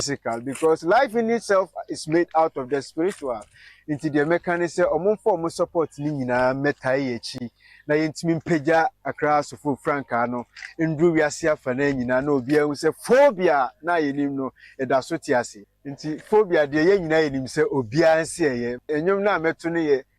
physical because life in itself is made out of the spiritual nti deɛ mɛka ne sɛ ɔmo mfa ɔmo support ne nyinaa mmɛtae yɛ akyi na yɛntumi mpagya akra asofo frankaa no nduru wiase afa no nyinaa na obiara hu sɛ phobia na yɛnim no ɛda so te ase nti phobia deɛ yɛn nyinaa yɛnim sɛ obiara nsi ɛyɛ nnwom no a mɛto no yɛ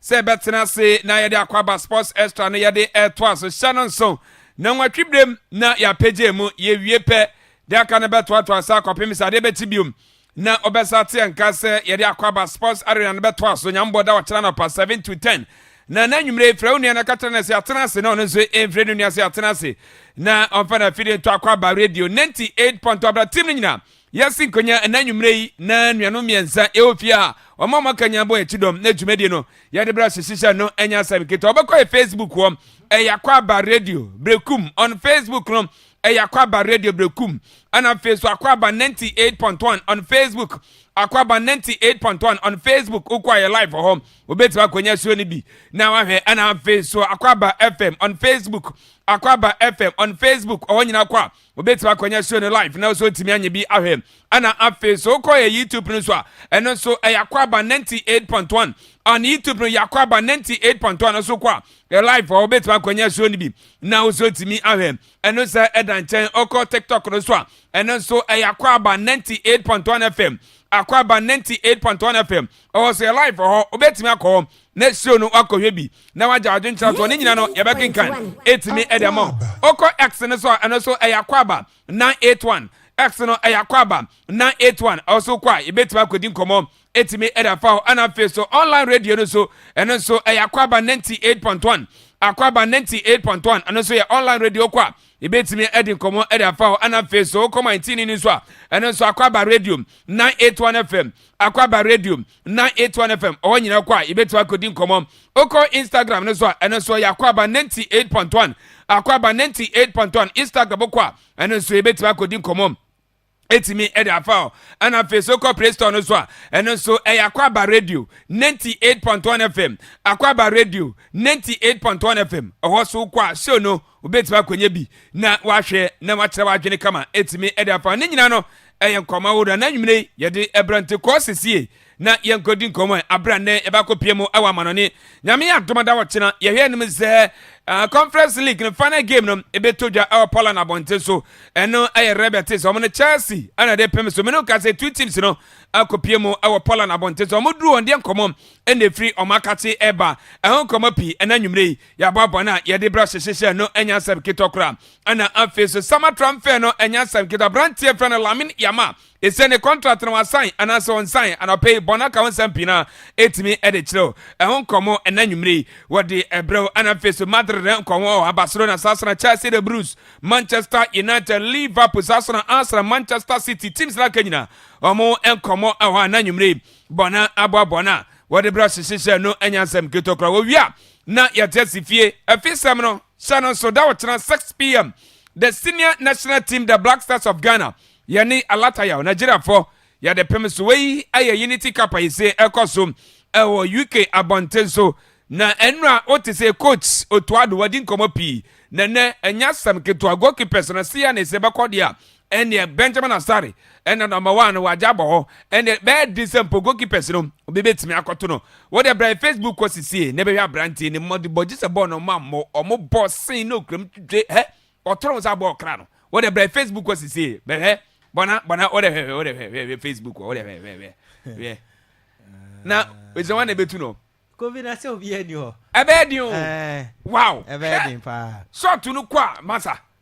Sɛ ɛbɛtena ase na yɛde Akwaaba Sports Extra no yɛde retoa so hyɛ no nson na nwɔtwe berɛm na yɛapagyae mu, yɛwie pɛ, deɛ aka no bɛtoatoa so akɔpem sɛ adeɛ bɛkye biom na wɔbɛsa ateɛ nka sɛ yɛde Akwaaba Sports Arena no bɛtoa so Nyame bɔ da ɔkyena anɔpa 7 to 10 na na anwummerɛ yi frɛ wo nua na ka kyerɛ no sɛ atena ase na ɔno nso mfrɛ no nua sɛ atena ase na ɔmfa no afidie nto Akwaaba Radio 98 pɔntɔ abra tim no nyinaa Wiase Nkɔnya ɛnɛ anwummerɛ yi na nuanom mmiɛnsa ɛwɔ fie a wɔn a wɔaka nyinaa bɔ yɛti dɔm na dwumadie no yɛde berɛ ahyehyehya no ɛnyɛ asɛm ketewa wɔbɛkɔ yɛ Facebook hɔ ɛyɛ akwaaba radio brekum on Facebook no ɛyɛ akwaaba radio brekum ɛna afei so akwaaba 98.1 on Facebook akwaaba 98.1 on Facebook wokɔ ayɛ live hɔ wobɛtumi akɔnya suo no bi na wahwɛ ɛna afei so akwaaba FM on Facebook akwaaba FM on Facebook ɔhɔ nyina kɔ a wobɛtumi akɔnya show no live na nso ntumi anyɛ bi ahwɛ ɛna afei so wokɔ yɛ youtube no so a ɛno nso ɛyɛ akɔ aba 98.1 an youtube no yɛ akɔ aba 98.1 no so kɔ a yɛ live a wobɛtumi akɔnya show no bi na wo nso ntumi ahwɛ ɛno sɛ ɛda nkyɛn ɔkɔ tiktok no so a ɛno nso ɛyɛ akɔ aba 98.1 fm akɔ aba 98.1 fm ɔwɔ so yɛ live hɔ wobɛtumi akɔ hɔ na suro no wakɔhwɛ bi na wagya wadwene kyerɛ soɔ ne nyina no yɛbɛkenkan ɛtumi ɛde ama wo ɔkɔ x no so a ɛno so ɛyɛ akwaaba 981 x no ɛyɛ akwaaba 981 ɔso kɔ a yɛbɛtumi akɔdi nkɔmmɔ ɛtumi ɛde afa hɔ ɛna afei so online radio no so ɛno nso ɛyɛ akwaaba 98.1 akwaaba 98.1 ɛno nso yɛ online radio kɔ a yɛbɛtumi ɛde nkɔmmɔ ɛde afa hɔ ɛna afei so wokɔma ntini no nso a ɛno nso akwaaba radio 981 fm akwaaba radio 98.1FM ɔhɔ nyinaa kɔ a yɛbɛtumi akɔdi nkɔmmɔ wokɔ instagram no so a ɛno nso yɛ akwaaba 98.1 akwaaba 98.1 instagram kɔ a ɛno nso yɛbɛtumi akɔdi nkɔmmɔ ɛtumi ɛde afa hɔ ɛna afei so kɔ play store no so a ɛno nso ɛyɛ akwaaba radio 98.1 fm akwaaba radio 98.1 fm ɛhɔ so kɔ a show no Wobɛtumi akɔnya bi na woahwɛ na woakyerɛ w'adwene kama ɛtumi de afa ho. Ne nyinaa no ɛyɛ nkɔmmɔ ahodoɔ na anwummerɛ yi yɛde ɛbrɛ nti kɔɔ sesie na yɛnkɔ di nkɔmmɔ ɛ aberɛ a nnɛ yɛbɛakɔ pie mu ɛwɔ amanɔne nyame yɛ adoma da wɔkyena yɛhwɛ anim sɛ uh, conference league no final game no ɛbɛtɔ dwa ɛwɔ Poland abɔnten so ɛno ɛyɛ Red Betis wɔn no Chelsea ɛna de pem so mene woka sɛ two teams no akɔ pie mu ɛwɔ Poland abɔnten so wɔn duru wɔn deɛ nkɔmmɔ ɛna ɛfiri wɔn akakye ɛba ɛho nkɔmmɔ pii ɛna anwummerɛ yi Yɛaboaboa no a yɛde bra hyehye hyɛ no ɛnyɛ asɛm ketewa koraa. Ɛna afei so sama transfer no ɛnyɛ asɛm ketewa. Aberanteɛ fɛ no Lamin Yama. Ɛsɛ ne contract no wasan anaasɛ ɔnsan anɔpɛ yi bɔn aka ho nsɛm pii na ɛtumi ɛde kyerɛw. Ɛho nkɔmmɔ ɛna nwummere yi wɔde ɛbrɛw ɛna afei so Madrid ne nkɔmmɔ wɔ Barcelona saa sena Chelsea the Blues Manchester United Liverpool saa sena Arsenal Manchester City teams na aka nyina wɔn nkɔmmɔ ɛwɔ ɛna nwummere yi bɔn aboa bɔn a wɔde bra hyehyehyɛ no ɛnyɛ asɛm ketewa koraa wɔwie a Na yɛte ase fie. Afi sɛm no, hyɛ no nso, da ɔkyena 6 pm, the senior national team the Black Stars of Ghana, yɛne Alatayaw, Nigeriafɔ, yɛde pem so. Wei yɛ Unity Cup a yɛse ɛkɔ so ɛwɔ UK abɔnten so. Na ɛnora wote se coach Otto Addo wadi nkɔmmɔ pii. Na ɛnɛ ɛnyɛ asɛm ketewa, goalkeepers no se yɛne se bɛkɔ deɛ a, Ɛnneɛ Benjamin Asare na number one no wagya abɔ hɔ. Ɛnneɛ bɛyɛ den sɛ mpo goalkeepers no obi bɛtumi akɔto no. Wo deɛ bra yɛ Facebook hɔ sesie na bɛhwɛ aberanteɛ no mmɔdebɔ gye sɛ bɔɔl no ɔma mmɔ ɔmo bɔ sen na okura mu twitwe hɛ ɔtɔre wo saa bɔɔl kra no. Wo deɛ bra yɛ Facebook hɔ sesie bɛhwɛ bɔna bɔna wo deɛ hwɛ hwɛ wo deɛ hwɛ hwɛ hwɛ Facebook hɔ wo deɛ hwɛ hwɛ hwɛ hwɛ na ɛsɛ wɔn na ɛbɛtu no. Covid na sɛ obiara ni hɔ. Ɛbɛyɛ den o. Wow. Ɛbɛyɛ den paa. Short no kɔ a masa.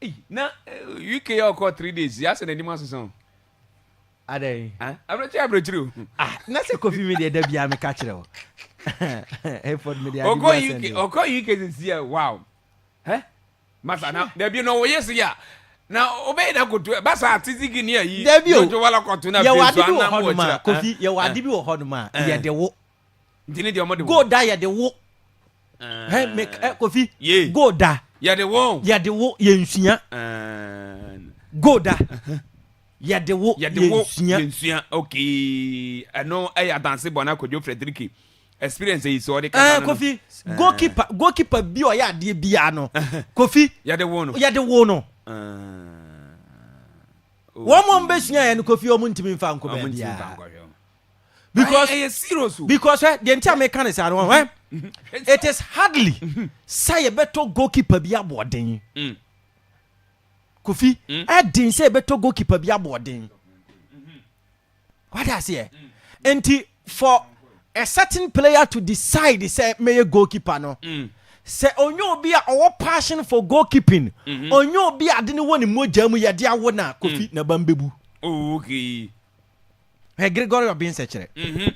Ei na UK yɛ ɔkɔ three days yɛ asɛ n'anim asesa o. Adɛn? Ah, abirekyiri abirekyiri o. Ah, na sɛ kofi mi deɛ da biara mi ka kyerɛ o. Efɔd mi deɛ adi bi asɛn deɛ. Ɔkɔ UK ɔkɔ UK sisi yɛ wow. Hɛ? Masa na dabi na ɔyɛ si yɛ a na ɔbɛyɛ na koto ba sa titi gini ayi. Dabi o. Yɛ wɔ adi bi wɔ hɔ nom a kofi yɛ wɔ adi bi wɔ hɔ nom a yɛ de wo. Nti ne deɛ ɔmo de wo. Gold da yɛde wo. Hɛ me ɛ kofi. Ye. Gold da. Yɛde wo. Yɛde wo yɛnsua. Gold da. Yɛde wo yɛnsua. Yɛnsua okay. Ɛno ɛyɛ adanse bɔ na Kojo Frederiki experience yi so ɔde kasa no. Kofi goalkeeper goalkeeper bi ɔyɛ adeɛ biara no. Kofi. Yɛde wo no. Yɛde wo no. Wɔn a wɔn bɛsua yɛ no Kofi wɔn ntumi nfa nkɔ baabiara. because ɛyɛ serious o because ɛ deɛ nti a meka ne saa no ɔhɛ it is hardly sɛ yɛbɛtɔ goalkeeper bi aboɔden mm. kofi mm. ɛden sɛ yɛbɛtɔ goalkeeper bi aboɔden mm-hmm. wade aseɛ mm. nti for a certain player to decide sɛ mɛyɛ goalkeeper no sɛ onye obi a ɔwɔ passion for goalkeeping mm-hmm. onye obi a ade ne wɔ ne mogya mu yɛde awo na kofi na ban bɛbu. Oh, okay. Hwɛ Gregory Obin sɛkyerɛ.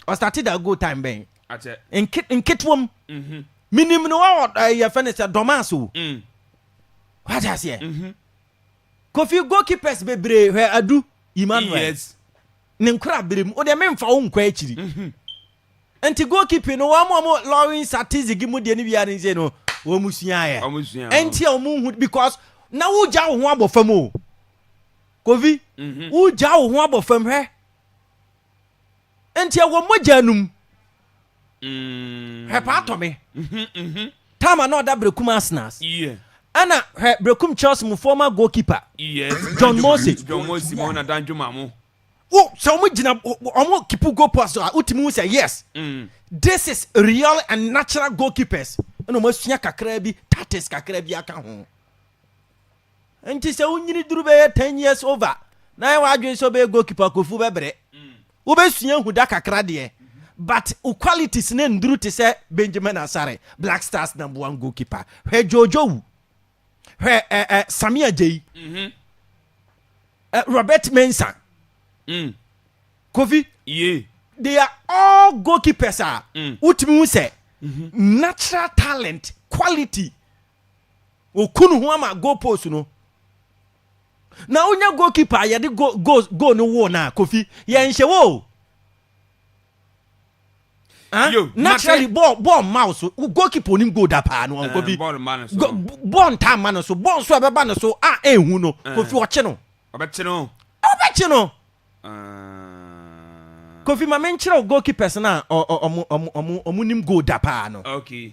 Ɔstate da good time bɛn? Nke nketewa mu. Menim no wɔ yɛfɛ no sɛ Dɔmas o. Wate aseɛ? Kofi goalkeepers bebree hwɛ Adu Emmanuel. Ne nkora bere mu. O deɛ memfa wo nkɔ akyiri. Nti goalkeeping no wɔn wɔn Lawrence Atizigi mu deɛ no wia ne nse no wɔn suaeɛ. Nti a wɔn hu because na wogya wo ho abɔ fam o. Kofi, mhm. wogyaa wo ho abɔ fam hwɛ. Nti ɛwɔ mogya no mu. Mm. Hwɛ paa tɔ me. Mhm, mhm. Tama na ɔda Brekum Arsenals. Yeah. Ɛna hwɛ Brekum Chelsea mu former goalkeeper. Yes. John Mose. John Mose ma ɔna dan dwuma mo. Wo sɛ wɔn gyina wɔn kipu goal post a wotumi hu sɛ yes. Mm. This is real and natural goalkeepers. Ɛna wɔn asua kakra bi tactics kakra bi aka ho. Nti sɛ wo nyini duru bɛyɛ ten years over na ayɛ w'adwene sɛ wobɛyɛ goalkeeper a Kofu bɛbrɛ. Wobɛsua ahu da kakra deɛ but wo qualities no nnuru te sɛ Benjamin Asare, Black Stars number one goalkeeper. Hwɛ Jojo Wu. Hwɛ ɛ ɛ Sammy Ajayi. Ɛ Robert Mensah. Mm. Kofi. Ye. They are all goalkeepers a wotumi hu sɛ natural talent, quality. oku ne ho ama goal post no na wonya goalkeeper a yɛde goal goal goal no woo na kofi yɛnhyɛ wɔ o ah, Yo, naturally mate. bɔɔl bɔɔl mma wo so Wo goalkeeper onim goal da paa no Eh, kofi bɔɔl mma no so. Go- b- bɔɔl ntaa mma no so bɔɔl nso a ɛbɛba no so a ɛnhu no Eh. kofi ɔkye no ɔbɛkye no ɔbɛkye no Ah, kofi ma menkyerɛ wo goalkeepers no a ɔ- ɔ- ɔmo- ɔmo ɔmo- ɔmo nim goal da paa no okay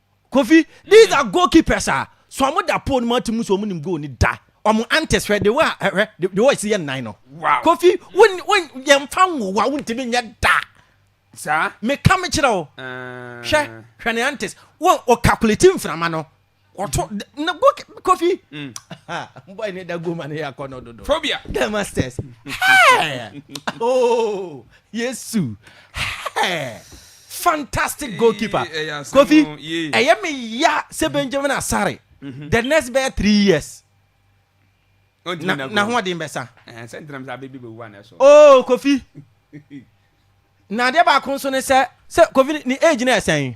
Kofi, these are goal keepers a, so ɔmo da pole no mu ate mu so ɔmo nim goal ni da. Ɔmo antes hwɛ de wɔ a hwɛ de wɔ esi yɛ nnan no. Wow. Kofi, won won yɛn fa nwowa wontumi nyɛ da. Saa. Me ka me kyerɛ wo. Uh... Hwɛ hwɛ ne antes wɔn o calculate mframa no. Ɔtɔ mm. na go Kofi. Mm. Boy ne da go ma ne yɛ akɔ no dodo. Phobia. The masters. Hey. oh. Yesu hɛɛ fantastic goalkeeper Kofi ɛyɛ me ya sɛ Benjamin Asare mhm. the next bɛyɛ three years na ho ɔden bɛsa oh Kofi na adeɛ baako nso ne sɛ sɛ Kofi ne age na ɛsɛn.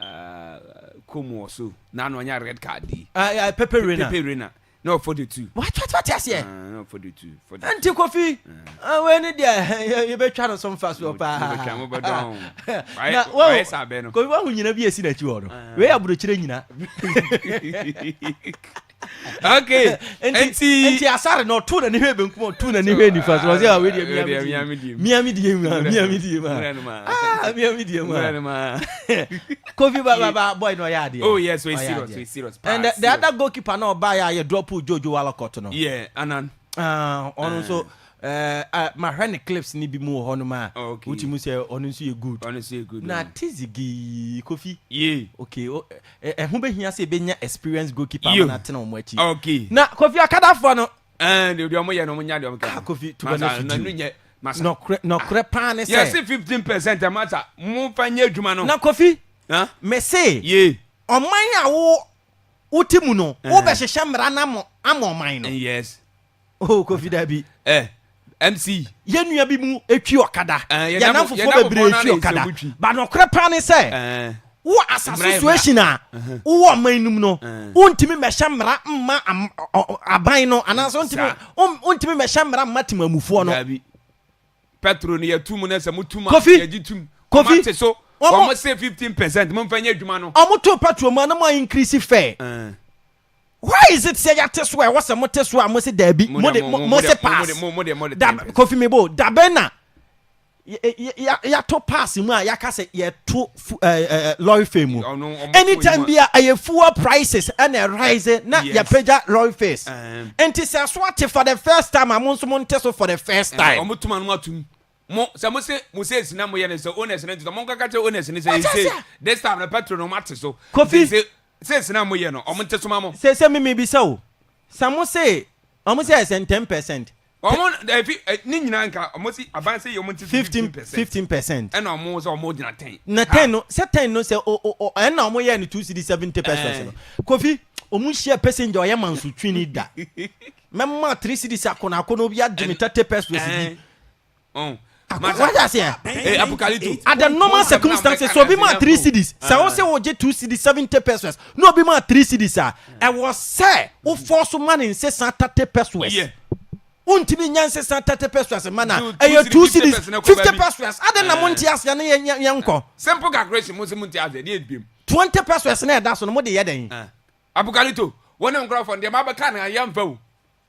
Uh, Como or so. Now no anya red card di. Uh, uh, Pepe Reina. Pepe Reina. No for the two. What what what yes yeah. Uh, no for the two. For the Auntie Kofi. Ah, we ni dia. You be trying some fast wo pa. You be trying mo badon. Na wo. Why sabe no. Kofi wa hu nyina bi esi na chi wo no. We aburo chire nyina. okay nti nti asare na ɔto n'ani hwɛ benkum ɔto n'ani hwɛ nifa so ɔsɛ awo deɛ miami deɛ miami deɛ mu miami deɛ mu aa miami deɛ mu aa kofi ba ba ba boy na ɔyɛ adeɛ oh yes we serious we serious paa and the other goalkeeper na ɔbaa yɛ ayɛ drop jojo walakɔt no yeah anan ɔno nso Eh ah mahwɛ ne clips ne bi mu wɔ hɔ nom a wo ti mu sɛ ɔno nso yɛ good na tizi gii kofi ok ɛho bɛ hia sɛ ɛbɛ nya experience goalkeeper ama na tena ɔmo akyi na kofi akadafoɔ no ɛɛ deɛ ɔmo yɛ no ɔmo nya deɛ ɔmo kɛ ah kofi tuba na fi diw masa nɔkorɛ paa ne sɛ yɛsi fifteen percent masa mo fa nye adwuma no na kofi mese ɔman a wo wo ti mu no wo bɛ hyehyɛ mmara na mo ama ɔman no yes. oh kofi dabi eh mc yɛn nua bi mu etwi ɔkada eh, yɛn nam fofoɔ bebree etwi ɔkada ba nɔkorɛ paa ne sɛ eh. wo asa situation a uh-huh. wowɔ ɔman num no uh-huh. wontumi mmɛhyɛ mmara mma aban no anaasɛ wontumi mmɛhyɛ mmara mma temamufoɔ no petro no yɛtu mu no sɛ motum yɛgye tum kofi te so wɔn se fifteen percent mo nfa nyɛ adwuma no. wɔn to petro mu anam a increase fɛ. Uh. Why is it sɛ yɛate so a ɛwɔ sɛ mote so a mose daabi, mode, mose pass? Da, Kofi Mebo, dabɛn na yɛato pass mu a yɛaka sɛ yɛto lorry fare mu? Anytime bi a ɛyɛ fuel prices ɛna ɛrise na yɛpagya lorry fares. Nti sɛ ɛso ate for the first time a mo nso monte so for the first time. Wɔn tuma no atum mo sɛ mo se mo se esi na mo yɛ ne sɛ owners ne nti sɛ mo nkaka kyerɛ owners ne sɛ yɛ se this time na petrol no mo ate so kofi se Sese na mo yɛ no ɔmo nte soma mo. Sese me me bisa o sa mo se ɔmo se ɛsɛn ten percent. Ɔmo eh fi eh ne nyina nka ɔmo se aban se yɛ ɔmo nte se fifteen percent. Fifteen percent. Ɛna ɔmo sɛ ɔmo gyina ten. Na ten no sɛ ten no sɛ o o o ɛna ɔmo yɛ no two cedi seventy pesos no kofi ɔmo nhyia pesenja ɔyɛ mansotwini da mɛma three cedis akono akono obi agye me thirty pesos bi Oh. What's I say? Eh, Apocalypto. At the normal circumstances, so be my three cities. So I say, oh, two cities, 70 pesos. No, be my three cities, sir. I was, sir, who force man in say 30 pesos. Yeah. wontumi nya nse san thirty pesos ma na ɛyɛ two cities fifty pesos adan na mo nte ase na yɛ yɛ nkɔ. simple calculation mo se mo nte ase ɛdi ebien. twenty pesos na ɛda so no mo de yɛ dɛ. abukalito wɔn ne nkorɔfɔ ndeɛma bɛ kaa na yɛn fɛ o.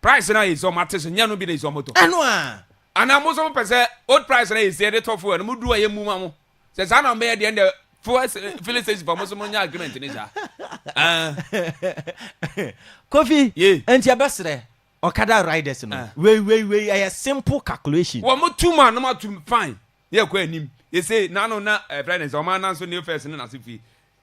Price na yɛ sɛ ɔmo ate so nyɛ no bi na yɛ sɛ ɔmo tɔ. Ɛno a. Anaa mo nso mo pɛ sɛ old price na yɛ sɛ yɛ de tɔ fuel no mo du a yɛ mmu ma mo? Sɛ saa na ɔmo bɛyɛ deɛ ɛnna fuel filling station fo mo nso mo nyɛ agreement ne saa. Aah. Kofi. Yee. Ɛnti yɛ bɛ srɛ ɔkada riders no. Aah. Wei wei wei ɛyɛ simple calculation. Wɔ mo tum a na mo atum fine na yɛ kɔ anim. Yɛ sɛ n'ano na ɛfrɛ ne sɛ ɔmo anan so new first ne n'ase fie.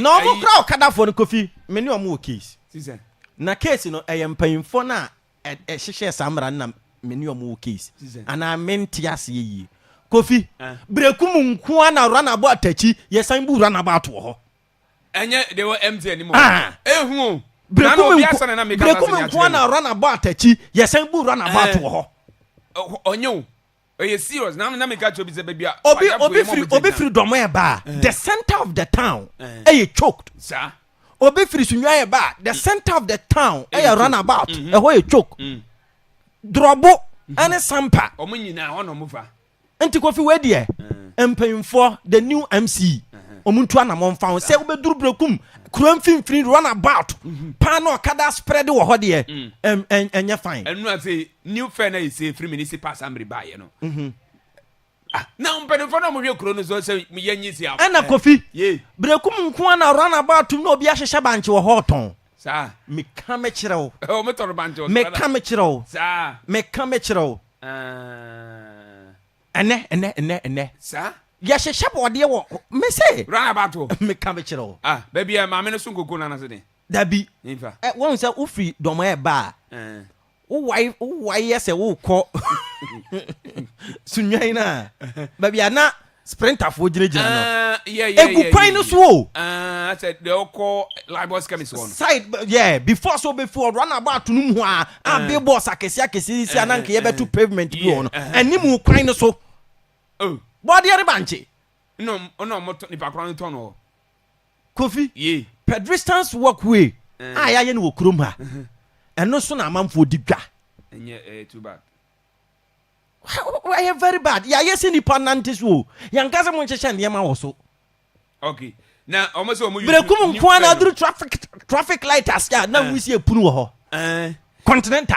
Na ɔmo kora ɔkadafoɔ no Kofi, me ne ɔmo wɔ case. Na case no ɛyɛ mpanyinfoɔ no a ɛhyehyɛɛ saa mmara no na me ne ɔmo wɔ case. Anaa me nte aseɛ yie. Kofi, breku mu nko ara na runabout akyi yɛsan bu runabout wɔ hɔ. Ɛnyɛ deɛ ɛwɔ MTN no mu o. Ehu o. Na na obi asa na na meka saa asɛm yi akyerɛ no. Breku mu nko ara na runabout akyi yɛsan bu runabout wɔ hɔ. Ɔnyɛ o. Ɛyɛ serious na na meka kyerɛ obi sɛ baabi a Obi w'adamfo obi yɛ ma firi ɔmo obi gyina. firi dɔmɔ ɛba a the center of the town ɛyɛ choked. Saa. Obi firi sunyani ɛba a the center of the town Ɛyɛ ɛyɛ run choked. about Mhm. ɛhɔ yɛ choked. Mm. Drɔbo ɛne sampa. Ɔmo nyinaa hɔ na ɔmo fa. Nti Kofi wei deɛ mpanyinfoɔ the new MC ɔmo ntu anamɔ nfa ho sɛ wobɛduru Berekum kuro mfimfini run about paa na ɔkada spread wɔ hɔ deɛ ɛm ɛn ɛnyɛ fine. Ɛno afei new fɛ na yɛsɛ firi municipal assembly baayɛ no mhm. ah, na mpanimfoɔ no ɔmohwɛ kuro no so sɛ yɛnyi si afo ɛna kofi berɛkum nko a na ranaba atom na obi ahyehyɛ bankye wɔ hɔ ɔtɔn saa meka me kyerɛ wo ɔmotɔno bankye wɔ meka me kyerɛ wo saa meka me kyerɛ wo ah. ɛnɛ ɛnɛ ɛnɛ ɛnɛ saa yɛhyehyɛ bɔɔdeɛ wɔ me se ranaba to meka me kyerɛ wo ah, baabi a maame no so nkoko no anase den dabi wɔhu sɛ wofiri dɔm ɛba a wowae wowae yɛ sɛ worekɔ sunwan no a baabi a na sprinterfoɔ gyinagyina no Ah, yeah, yeah, egu yeah, kwan yeah, no yeah. so o Ah, I said, they'll call Lagos Chemist one. side b- yeah before so bɛfi hɔ run about no mu a a Eh. billboards akɛse akɛse sisi a na nka Eh, eh, yɛbɛto eh. pavement bi Yeah, wɔ no eh, eh. anim kwan no so Oh, bɔdeɛ de bankye no, no, moto, nipa kora no tɔn hɔ. Kofi, pedristance walk way a yɛayɛ no wɔ kurom ha, ɛno so na amanfoɔ di dwa. Ɛnyɛ ɛyɛ too bad. Ɛyɛ very bad. Yɛayɛ sɛ nipa nante so o. Yɛnka sɛ monhyehyɛ nneɛma wɔ so. Okay. Na wɔn sɛ wɔn use. Berekum nko ara na aduru traffic traffic light ase a na wusie punu wɔ hɔ. Continental.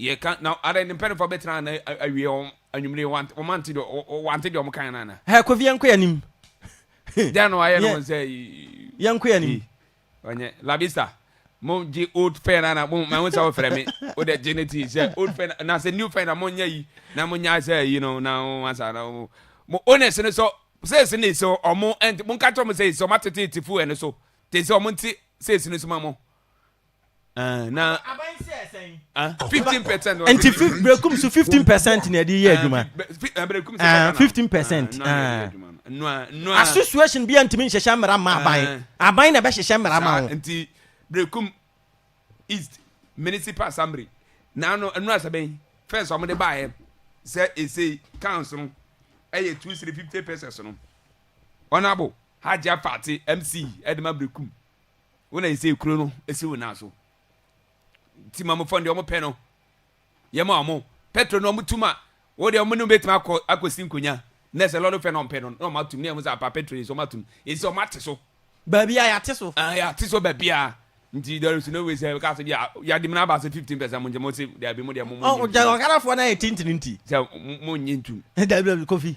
Yɛka, na adɛn, ne mpanyimfo abɛtena ha na awie wɔn anwummere yi, wɔn wɔante deɛ, wɔante deɛ wɔn kaeɛ no anaa? Hɛ, Kofi, yɛnkɔ yɛn anim. Dɛn na wɔayɛ no wɔn sɛ? Yɛnkɔ yɛn anim. Ɔnyɛ, Labista. Mo gye old fɛn na na mo ma ho sɛ wo fɛrɛ me wo dɛ gye ne tii sɛ old fɛn na sɛ new fɛn na mo nyɛ yi na mo nya sɛ yi no na mo asa na mo mo owners no so sɛs ne so ɔmo ɛnti mo nka kyerɛ mo sɛ sɛ ɔmo atete tifo ɛno so te sɛ ɔmo nti sɛs no so ma mo na fifteen percent. nti berekum so fifteen percent na ɛde yɛ adwuma fifteen percent. association bi a ntumi nhyehyɛ mmara ma aban aban na ɛbɛhyehyɛ mmara ma ho. nti berekum east municipal assembly na ano ɛnu asɛbɛn fɛs wɔn de baayɛ sɛ ese council no ɛyɛ two three fifty percent no honourable hajj afate mc ɛde ma berekum. Wo na nsɛ kuro no si wo nan so nti ma mofɔ deɛ ɔmo pɛ no yɛ ma ɔmo petro no ɔmo tuma wo deɛ ɔmo ne betuma akɔ akɔ si nkonya na sɛ lɔri fɛ na ɔmo pɛ no na ɔmo atum na yɛ mo sɛ apa petro yi so ɔmo atum esi ɔmo ate so baabi a yɛate so ɛn yɛate so baabi a nti there is no way sɛ ɛka sɛ bi a yɛade mu na aba sɛ fifteen percent mo nkyɛn mo se daabi mo deɛ mo mo nyi ntum ɔkarafoɔ na yɛ tenten nti sɛ mo nyi ntum daabi kofi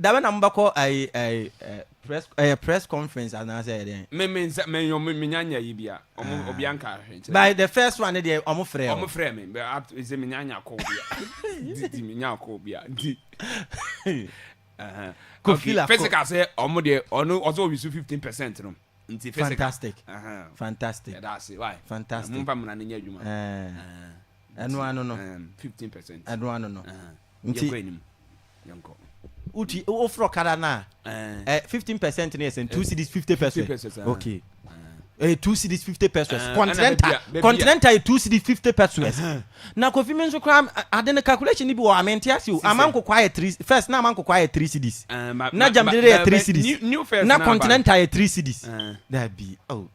Dabe na mobɛkɔ ayi ayi eh, press ɛyɛ press conference anaasɛ ɛyɛ dɛn? Me me nsa me yɔn me nya nya yi bia. Ɔmo Ah. obia nka ahwɛ nkyɛn. By the first one ne deɛ ɔmo frɛ Ɔmo wo. frɛ me but up to nse me nya nya kɔ obia. Di di me nya kɔ obia. Di. Aha. Kɔ Okay, fila, kɔ. physical sɛ ɔmo deɛ ɔno ɔsɛ ɔwi so 15 percent no. Nti physical. Fantastic. Aha. Fantastic. Yɛda ase why. Fantastic. Mo mfa mmra no nyɛ adwuma. Eh. Ah. ɛno ano no fifteen percent ɛno ano no nti yɛkɔ anim yɛnkɔ wotu wofrɛ ɔkada no a fifteen percent no yɛ sɛ two cities fifty percent okay ɛyɛ eh, two cities fifty pesos eh, continental continental yɛ two cities fifty pesos na kofi mi nso kora ade no calculation ni bi wɔ ame nte ase o ama nkokɔ ayɛ three first na ama nkokɔ ayɛ three cities eh, na jamdere yɛ three cities na continental yɛ three cities dabi oh.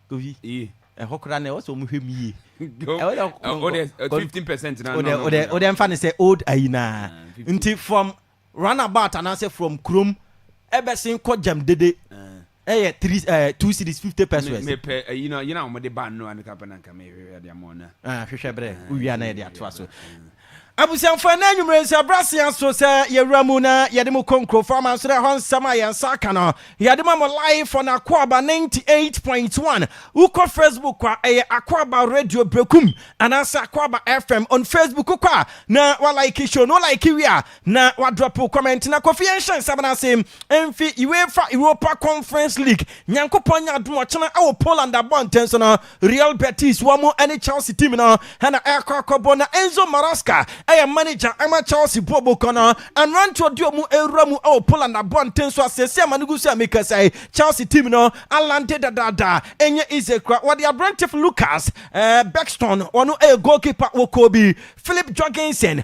Tovi, ee, ɛhɔ koraa na ɛwɔ sɛ wɔhwɛ mu yie. Ɛwɔ sɛ kɔnkɔ- Wo deɛ, eh, kɔn- 15% na- wodɛ na- na- wodɛ na- wodɛ mfa no sɛ old ayi naa Ah, 15. nti from runabout anaasɛ from kurom ɛbɛsen kɔ gyam dede ɛyɛ three eh, two cities fifty Me- pesos mepɛ ayi no yena wɔde ba no ano kapɛ na nka mehwehwɛ de ama ɔna Ah, hwehwɛ berɛ wowia na yɛde atoa so Abusuafo, ɛnnɛ anwummere nso, ɛberɛ asen aso sɛ yɛwura mu na yɛde mo kɔ nkurɔfoɔ amansoro ɛhɔ nsɛm a yɛn nsa aka no, yɛde ma mo live on Akwaaba 98.1. Wokɔ Facebook a, ɛyɛ Akwaaba Radio Berekum anaasɛ Akwaaba FM on Facebook. Wokɔ a na walike show no, wolike wie a na wadrɔpo comment na Kofi yɛnhyɛ nsɛm no ase mfi UEFA Europa Conference League. Nyankopɔn nyɛ adom ɔkyena ɛwɔ Poland abɔnten so no, Real Betis wɔn ne Chelsea team no na ɛrekɔ akɔbɔ na Enzo Maresca yɛ manager ma Chelsea buobokɔ no. Mmeranteɛ ɔde wɔn rewura mu wɔ Poland abɔnten so a seesei a mane gu so a mekasa yi Chelsea team no alande dadaada. Ɛnyɛ easy kora. Wɔde aberante Lukas eh, Bexton wɔn yɛ goalkeeper wɔ Kobe, Philip Jorgensen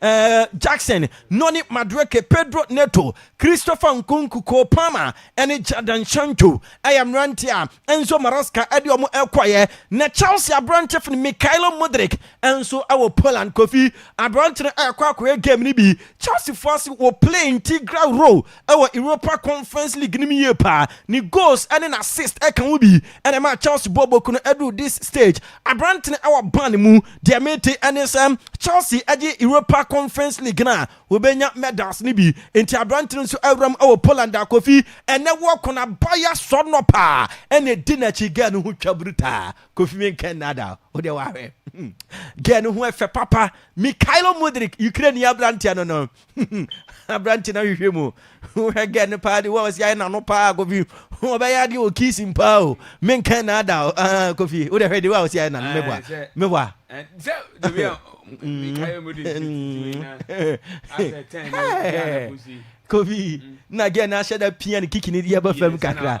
Eh, Jackson, Nonnie Madueke, Pedro Neto, Christopher Nkunku, Cole Palmer, ne Jadon Sancho yɛ mmerante a Enzo Maresca de wɔn rekɔeɛ, na Chelsea aberante fin Mykhailo Mudryk nso wɔ Poland. Kofi, aberante no rekɔ akɔyɛ game no bi Chelseafoɔ ase wɔ plane Tigray Row wɔ Europa Conference League no mu yie paa. Ne goals ne n'assist ka ho bi na ɛmaa Chelsea bɔɔ boku no duruu this stage. Aberante no wɔ ban mu. Deɛ mete ne sɛ Chelsea gye Europa Conference League no a, wɔbɛnya medals no bi. Enti aberante no nso awuram wɔ Poland a Kofi ɛnnɛ wɔ Konabaya Srnop a ɛna ɛdi n'akyi. Girl no ho twa brutaa. Kofi menkɛ nnaadaa wo. Wo deɛ woahwɛ. Girl no ho yɛ fɛ papa. Mykhailo Mudryk, Ukraine ni aberanteɛ no no. Aberante no ahwehwɛ mu. Wohwɛ gɛ no paa de wo a ɔsi ayɛ n'ano paa Kofi. Ɔbɛyɛ adeɛ wɔ kiisim paa o. Menka na ada o. Ah, Kofi, wo de hwɛ de wo a ɔsi ayɛ n'ano meboa. Meboa. Kofi, na gɛ no ahyɛ da pia ne kiki ne deɛ ba fam kakra.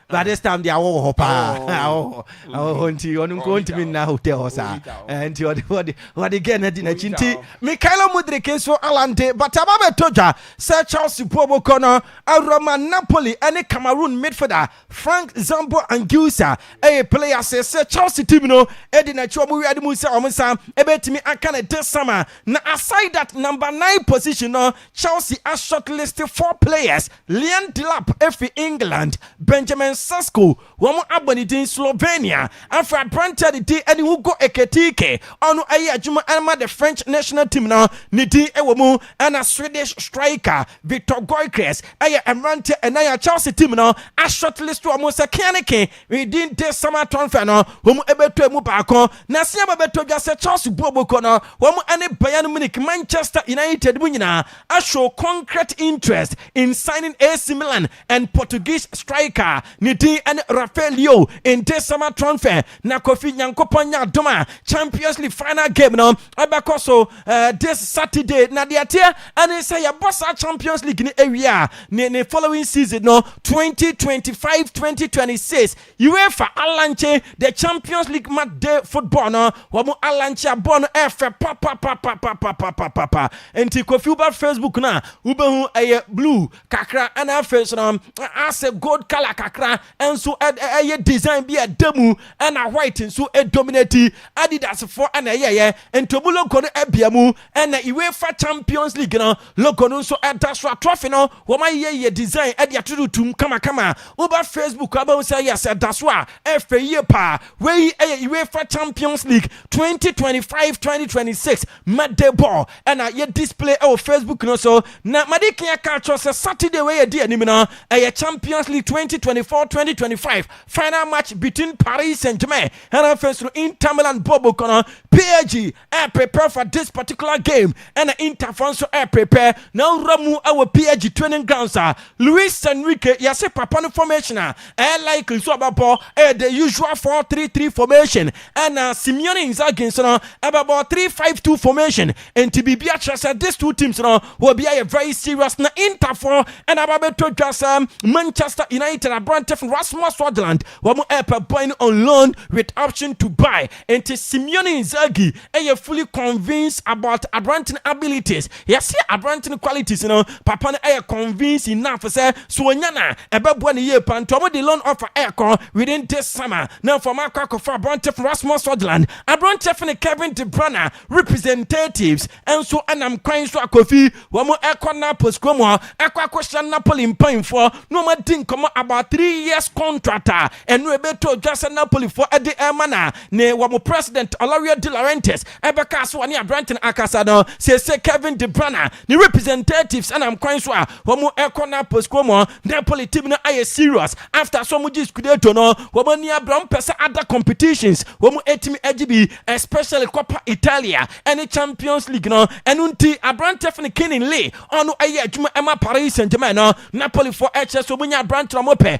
by this time deɛ awɔ wɔ hɔ paa awɔ hɔ awɔ hɔ nti ɔno nko ntumi nna hotel hɔ saa nti ɔde ɔde ɔde gɛɛ na di n'akyi nti Mikaelo Mudrik nso alante but aba bɛtɔ dwa sɛ Chelsea po bɔkɔ no awurama Napoli ɛne Cameroon midfielder Frank Zambo Anguissa ɛyɛ play ase sɛ Chelsea team no ɛdi n'akyi wɔn wia de mu sɛ wɔn nsa ɛbɛtumi aka ne de sama na aside that number nine position no Chelsea a shortlist four players Liane Delap fi England, Benjamin Sesko, wɔn abɔ ne din Slovenia, afei aberanteɛ a ne din ne Hugo Ekitike, ɔno yɛ adwuma ma the French national team no, ne din wɔ mu, ɛna Swedish striker Viktor Gyökeres yɛ mmeranteɛ nnan a Chelsea team no a short list wɔn sɛ kea ne ke ne din this summer transfer no wɔn bɛtɔ emu baako. N'aseaba bɛtɔ dwa sɛ Chelsea bu ɔbɔkuo no, wɔn ne Bayern Munich, Manchester United mu nyinaa a show concrete interest in signing AC Milan and Portuguese striker ne din ne Rafael Leao nte summer transfer na Kofi Nyankopɔn nyɛ adom a Champions League final game no ɛbɛkɔ so this Saturday na deɛ ɛteɛ ɛne sɛ yɛbɔ saa Champions League no awie a ne ne following season no 2025-2026 Uefa alankye the champions league match day football no wɔn alankye abɔ no ɛfɛ papapapapapapapa nti kofi ba facebook no a wobɛhu ɛyɛ blue kakra ɛna afei so no asɛ gold color kakra nso ɛyɛ design bi a ɛda mu ɛna white nso ɛdominati adidasfoɔ ɛna ɛyɛyɛ nti ɔmu logo no abia mu ɛna uefa champions league no Logo no nso da so a trophy no wɔayeyɛ yie design de ato do tumm kamakama. Woba Facebook a wobɛhu sɛ yes ɛda so a ɛfɛ yie paa. Wei yɛ UEFA Champions League twenty twenty five, twenty twenty six matchday ball na yɛ display wɔ Facebook no so. Na madi kan aka akyerɛ wo sɛ Saturday wei a ɛdi anim no ɛyɛ Champions League twenty twenty four, twenty twenty five final match between Paris Saint-Germain ɛna afei nso no Inter Milan bɔɔlbɔkuo no PSG ɛɛ prepare for this particular game ɛna Inter fɔ nso ɛɛ prepare na awura mu ɛwɔ PSG training grounds a Luis Enrique yɛse papa no formation a ɛɛ likely so ɔbɛbɔ ɛɛ the usual 4-3-3 formation ɛna Simeone Inzaghi nso no ɛbɛbɔ 3-5-2 formation nti biribi akyerɛ sɛ these two teams no wɔ bi ayɛ very serious na Inter fɔ ɛna aba bɛtɔ dwa sɛ Manchester United aberante fo Rasmus Hojlund wɔn ɛɛpɛ boy no on loan with option to buy Enti Simeon Inzaghi yɛ fully convinced about aberante no abilities. Yɛse aberante no qualities no, papa no yɛ convinced enough sɛ sɛ ɔnya no a, ɛbɛboa no yie paa. Nti wɔde loan offer rekɔ within this summer. Na afei wɔakɔ akɔfa aberante fo Rasmus Hojlund. Aberante fo no Kevin de Bruyne representatives nso nam kwan so akɔ fii. Wɔkɔ Naples kurom hɔ akɔ akɔhyia Napoli mpanyinfoɔ na wɔadi nkɔmmɔ about three years contract a Ɛno ɛbɛtɔ dwa sɛ Napolifoɔ de rema na ne wɔn president Olario de Laurentiis bɛkaa so ɔne aberante no akasa no. Seesei Kevin de Bruyne ne representatives nam kwan so a wɔrekɔ Naples kurom. Napoli team no ayɛ serious after sɛ wɔgye Scudetto no wɔn ani abere, wɔpɛ sɛ other competitions wɔtumi gye bi especially Coppa Italia ne Champions League no. Ɛno nti aberante yɛfrɛ no Kinin Lee ɔno yɛ adwuma ma Paris Saint Germain no. Napolifoɔ kyerɛ sɛ wɔnya aberante no wɔpɛ.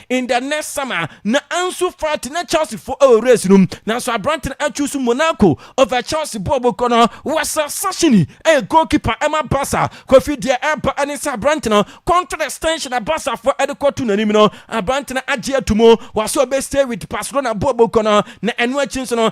In the next summer, na Ansu Fati ne Chelsea fo wɔ race no mu, nanso aberante no achuusu Monaco over Chelsea bo a wɔkura no. Wessel Sachini yɛ goalkeeper ma Barca. Kofi deɛ ɛreba ne sɛ aberante no contract extension a Barcafoɔ de kɔto n'anim no, aberante no agye atom. Wase ɔbɛ stay with Barcelona bo a wɔkura no, na ɛno akyi nso no,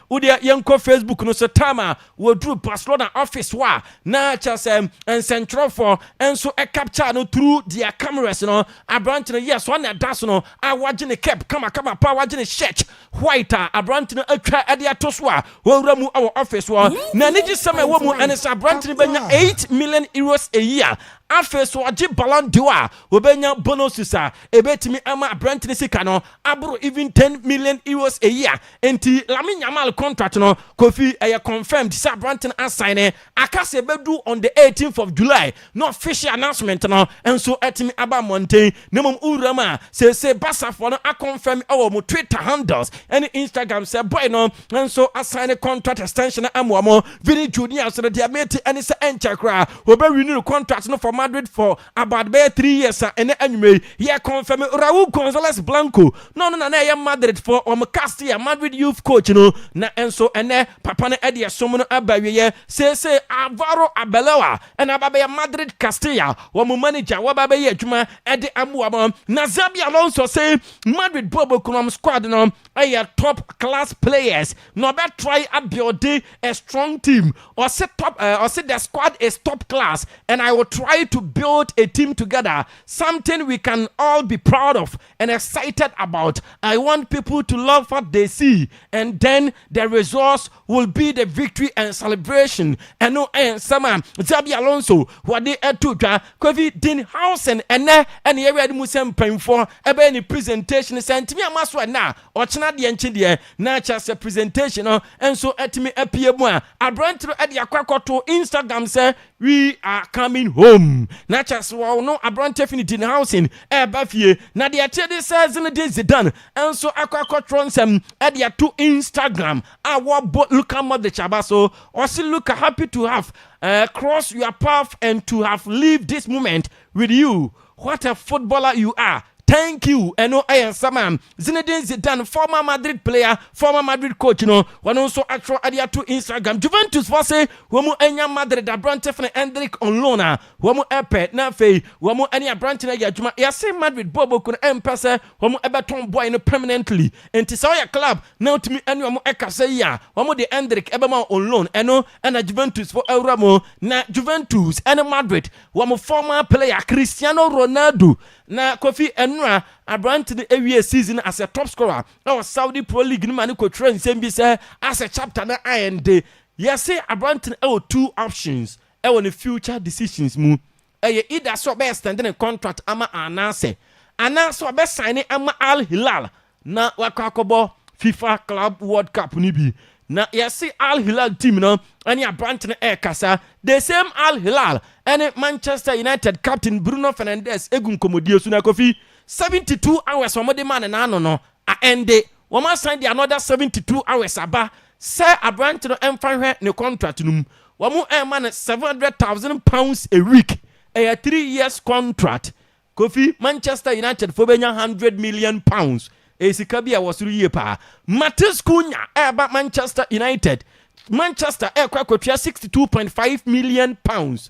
Wodeɛ yɛnkɔ Facebook no so time a wɔduru Barcelona office hɔ a, na kyerɛ sɛ nsɛntwerɛfoɔ nso capture no through their cameras no. Aberante no, yes, ɔne ɛda so no a wagye ne cap kamakama paa, wagye ne shirt white a aberante no atwa de ato so a ɔrewura mu wɔ office hɔ. Na anigyesɛm a ɛwɔ mu ne sɛ aberante no bɛnya eight million euros a year. Afei nso ɔgye Ballon d'Or a, ɔbɛnya bonuses a ɛbɛtumi ama aberante no sika no aboro even ten million euros a year. Enti Lamine Yamal contract no, Kofi, ɛyɛ confirmed sɛ aberante no asan ne, aka sɛ ɛbɛdu on the eighteenth of July na official announcement no nso atumi aba mmɔnten na mmom wuram a, seesei Barcafoɔ no aconfirm wɔ wɔn Twitter handles ne Instagram sɛ boy no nso asan ne contract extension no ama wɔn. Vini Junior nso no, deɛ mete ne sɛ ɛnkyɛ koraa wɔbɛrenew ne contract no for Madrid for About bɛyɛ three years a ɛnɛ anwummerɛ yi yɛ confirm Raul Gonzalez Blanco na ɔno na na ɛyɛ Madrid foɔ wɔn Castilla Madrid youth coach no na nso ɛnɛ papa no ɛde ɛsom no aba awieɛ seesei Alvaro Arbeloa ɛna aba abɛyɛ Madrid Castilla wɔn manager wɔba abɛyɛ adwuma ɛde aboa wɔn na Xabi Alonso se Madrid bɔɔl bɔkuno wɔn squad no ɛyɛ top class players na ɔbɛ try abuilde a strong team, ɔse top eh, ɔse the squad is top class and I will try to build a team together, something we can all be proud of and excited about, I want people to love what they see and then the results will be the victory and celebration Ɛno ɛyɛ nsɛm a Xabi Alonso wɔde ɛto dwa Kofi Dinhausen ɛnɛ ɛna yɛwia no mu sɛ mpanyinfoɔ ɛbɛyɛ ne presentation, sɛ ntumi ama so ɛnɛ a Ɔkyena deɛ nkye deɛ na kyerɛ sɛ presentation no nso atumi apue mu a, aberante no de akɔ akɔto Instagram sɛ we are coming home. Na kyerɛ sɛ wɔn no aberante fi ne Dine Housing ɛreba fie. Na deɛ ɛteɛ de sɛ Zinedine Zidane nso akɔ akɔtwerɛ nsɛm de ato Instagram a wɔbɔ Luka Modric aba so. Ɔse Luka happy to have uh, crossed your path and to have lived this moment with you. What a footballer you are. Thank you. Ɛno ɛyɛ nsɛm a Zinedine Zidane, former Madrid player, former Madrid coach no, ɔno nso atwerɛ ade ato Instagram. Juventus fɔ se wɔn anya Madrid aberante fene Endrick on loan a wɔn pɛ na afei wɔn ne aberante no ayɛ adwuma. Yɛse Madrid bɔɔlbɔkuo no mpɛ sɛ wɔn bɛtɔn boy no permanently nti sɛ woyɛ club na wotumi ne wɔn kasa yi a wɔn de Endrick bɛma wo on loan ɛno na Juventus fo awura mu. Na Juventus ne Madrid wɔn former player Cristiano Ronaldo Na Kofi Enura, aberante no wiee season no asɛ top scorer wɔ Saudi Pro League no ma no kɔtwerɛɛ nsɛm bi sɛ, Asɛ chapter no aɛnde. Yɛse aberante no wɔ two options wɔ ne future decisions mu. Ɛyɛ either sɛ ɔbɛ extend ne contract ama Al Nassr anaasɛ ɔbɛ signe ama Al Hilal Na wakɔ akɔbɔ fifa club world cup no bi na yɛse Al Hilal team no ɛne aberante no ɛrekasa the same Al Hilal ɛne Manchester United captain Bruno Fernandes ɛgu nkɔmmɔdie so na Kofi 72 hours wɔn de maa no n'ano no a ɛnde wɔn asan de another 72 hours aba sɛ aberante no ɛmfa nhwɛ ne contract no mu wɔn ɛrema no 700,000 pounds a week ɛyɛ three years contract Kofi, Manchester United foɔ bɛnya hundred million pounds, ɛyɛ sika bi a ɛwɔ soro yie paa. Matheus Cunha ɛreba Manchester United, Manchester ɛrekɔ akɔtua sixty two point five million pounds,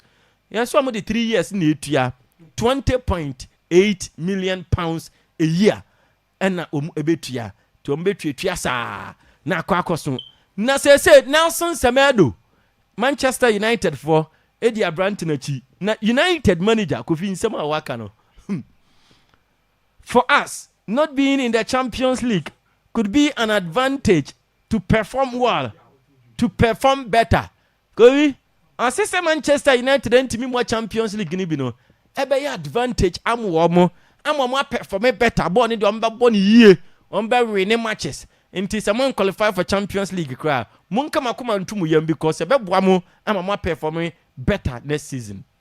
yɛn so a wɔde three years na ɛtua twenty point eight million pounds a year. na wɔbɛtua, nti wɔbɛtuatua saa na akɔ akɔso. Na seesei Nelson Semedo, Manchester United foɔ di aberante no akyi, na United manager Kofi nsɛm a waka no hmm, for us not being in the Champions League could be an advantage to perform well, to perform better Kori, Ɔse sɛ Manchester United antumi mmɔ Champions League no bi no, ɛbɛyɛ advantage ama wɔn, ama wɔn apɛfɔme better, bɔɔl no deɛ wɔbɛbɔ no yie, wɔbɛwine matches, nti sɛ moanqualify for Champions League koraa a, monka mo akoma nto mu yam because ɛbɛboa mo ama moapɛfɔme better next season.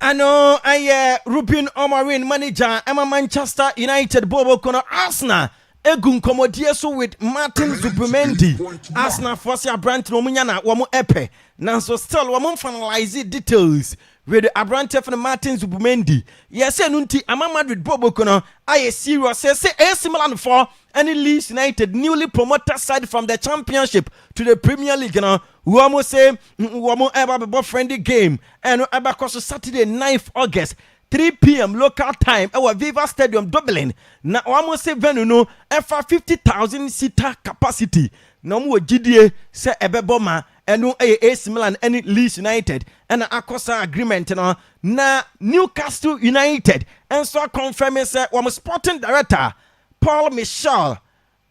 ɛno ɛyɛ Ruben Amorim manager ɛma Manchester United bɔɔlbɔkuo no Arsenal egu nkɔmɔdie so with Martin Zubimendi Arsenal foɔ se aberante no wɔn nya na wɔn ɛpɛ nanso still wɔn finalize details with aberante fɛn Martin Zubimendi yɛsɛ no nti ama Madrid bɔɔlbɔkuo no ayɛ serious sɛ sɛ AC Milan foɔ ɛne Leeds United newly promoted side from the championship to the Premier League no wɔn se Wɔn ɛba bɛbɔ friendly game ɛno ɛbɛkɔ so Saturday 9th August 3pm local time ɛwɔ Viva Stadium Dublin na wɔn se venue no ɛfa 50,000 seater capacity na wɔn wɔ gyidie sɛ ɛbɛbɔ ma ɛno ɛyɛ AC Milan ɛne Leeds United ɛna akɔ saa agreement no na Newcastle United nso akɔnfɛme sɛ wɔn sporting director Paul Michel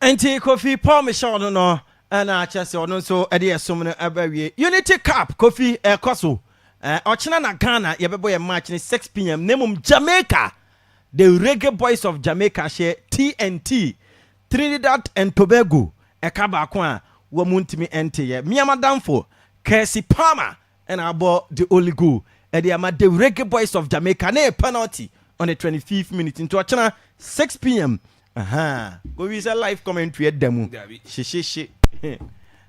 Enti Kofi Paul Michel no no na kyerɛ sɛ ɔno nso de ɛsom no bɛwie. Unity Cup, Kofi, ɛrekɔ so. Ɔkyena na Ghana yɛbɛbɔ yɛn match no 6 pm na mmom Jamaica, The Reggae Boys of Jamaica hyɛ TNT, Trinidad and Tobago, ɛka baako a wɔn mu ntumi nteeɛ. Mia m'adamfo, Kirsty Palmer, na abɔ the only goal de ama the Reggae Boys of Jamaica ne penalty on the twenty fifth minute nti ɔkyena six pm ahaa kɔwie sɛ live commentary ɛda mu hyehyehye